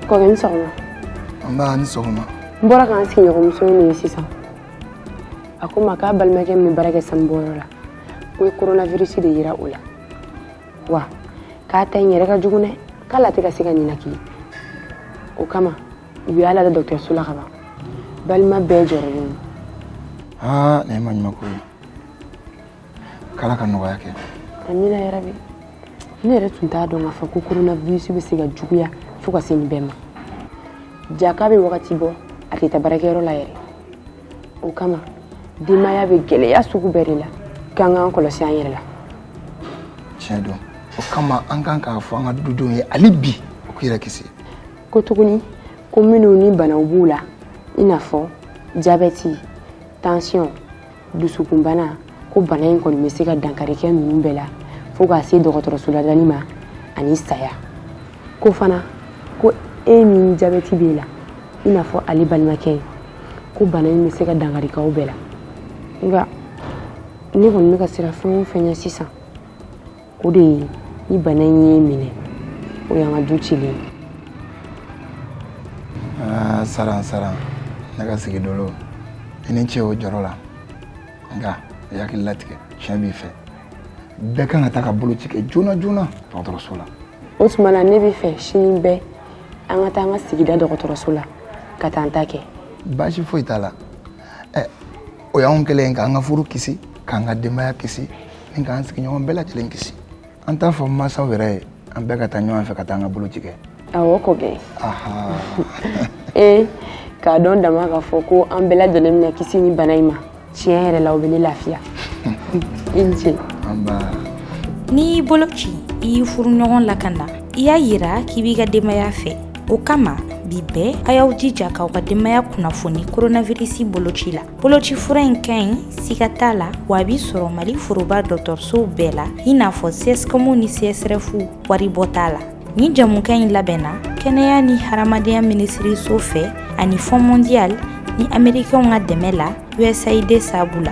kɔrɔkɛ i ni sɔgɔma nba i ni sɔgɔma n bɔra k'an sigiɲɔgɔnmuso ye nin ye sisan a ko n ma k'a balimakɛ min bɛ baara kɛ sanubɔyɔrɔ la k'u ye koronavirisi de yira o la wa k'a ta in yɛrɛ ka jugu dɛ k'ale tɛ ka se ka ninakili o kama u y'a lada dɔgɔtɔrɔso la ka ban balima bɛɛ jɔrɔlen don aa nin ye maɲumako ye k'ala ka nɔgɔya kɛ amina yarabi ne yɛrɛ tun t'a dɔn k'a fɔ ko koronavirisi bɛ se ka juguya fo ka se nin bɛɛ ma jaa k'a bɛ wagati bɔ a tɛ taa baarakɛyɔrɔ la yɛrɛ o kama denbaya bɛ gɛlɛya sugu bɛɛ de la k'an k'an kɔlɔsi an yɛrɛ la tiɲɛ don o kama an kan k'a fɔ an ka dudenw ye hali bi u k'u yɛrɛ kisi ko tuguni ko minnu ni banaw b'u la i n'a fɔ jabɛti tansiyɔn dusukunbana ko bana in kɔni bɛ se ka dankari kɛ ninnu bɛɛ la fo ka se dɔgɔtɔrɔso ladali ma ani saya ko fana ko e min jabɛti b'e la i n'a fɔ ale balimakɛ ye ko bana in bɛ se ka dankari k'aw bɛɛ la nka ne kɔni bɛ ka siran fɛn o fɛn ɲɛ sisan o de ye ni bana in y'i minɛ o y'an ka du cilen ye aa saran saran ne ka sigi dolo i ni ce o jɔrɔ la nka i hakili latigɛ tiɲɛ b'i fɛ bɛɛ kan ka taa ka boloci kɛ joona joona dɔgɔtɔrɔso la o tuma na ne b'a fɛ sini bɛɛ an ka taa an ka sigida dɔgɔtɔrɔso la ka taa an ta kɛ baasi foyi t'a la ɛ o y'an kɛlen ye k'an ka furu kisi k'an ka denbaya kisi ni k'an sigiɲɔgɔn bɛɛ lajɛlen kisi an t'a fɔ n mansaw yɛrɛ ye an bɛɛ ka taa ɲɔgɔn fɛ ka taa an ka boloci kɛ awɔ ko bɛn ee k'a dɔn dama k'a fɔ ko an bɛɛ lajɛlen bɛna kisi nin bana in ma tiɲɛ yɛrɛ la o bɛ ne lafiya i ni ce n'i y'i boloci i y'i furuɲɔgɔn lakana i y'a yira k'i b'i ka denbaya fɛ o kama bi bɛɛ a y'aw jija k'aw ka denbaya kunnafoni koronavirisi boloci la boloci fura in ka ɲi siga t'a la wa a bɛ sɔrɔ mali foroba dɔgɔtɔrɔsow bɛɛ la i n'a fɔ cscomw ni csrefw waribɔ t'a la nin jɛmukan in labɛnna kɛnɛya ni hadamadenya minisiriso fɛ ani fonds mondial ni amerikɛnw ka dɛmɛ la usaid sabu la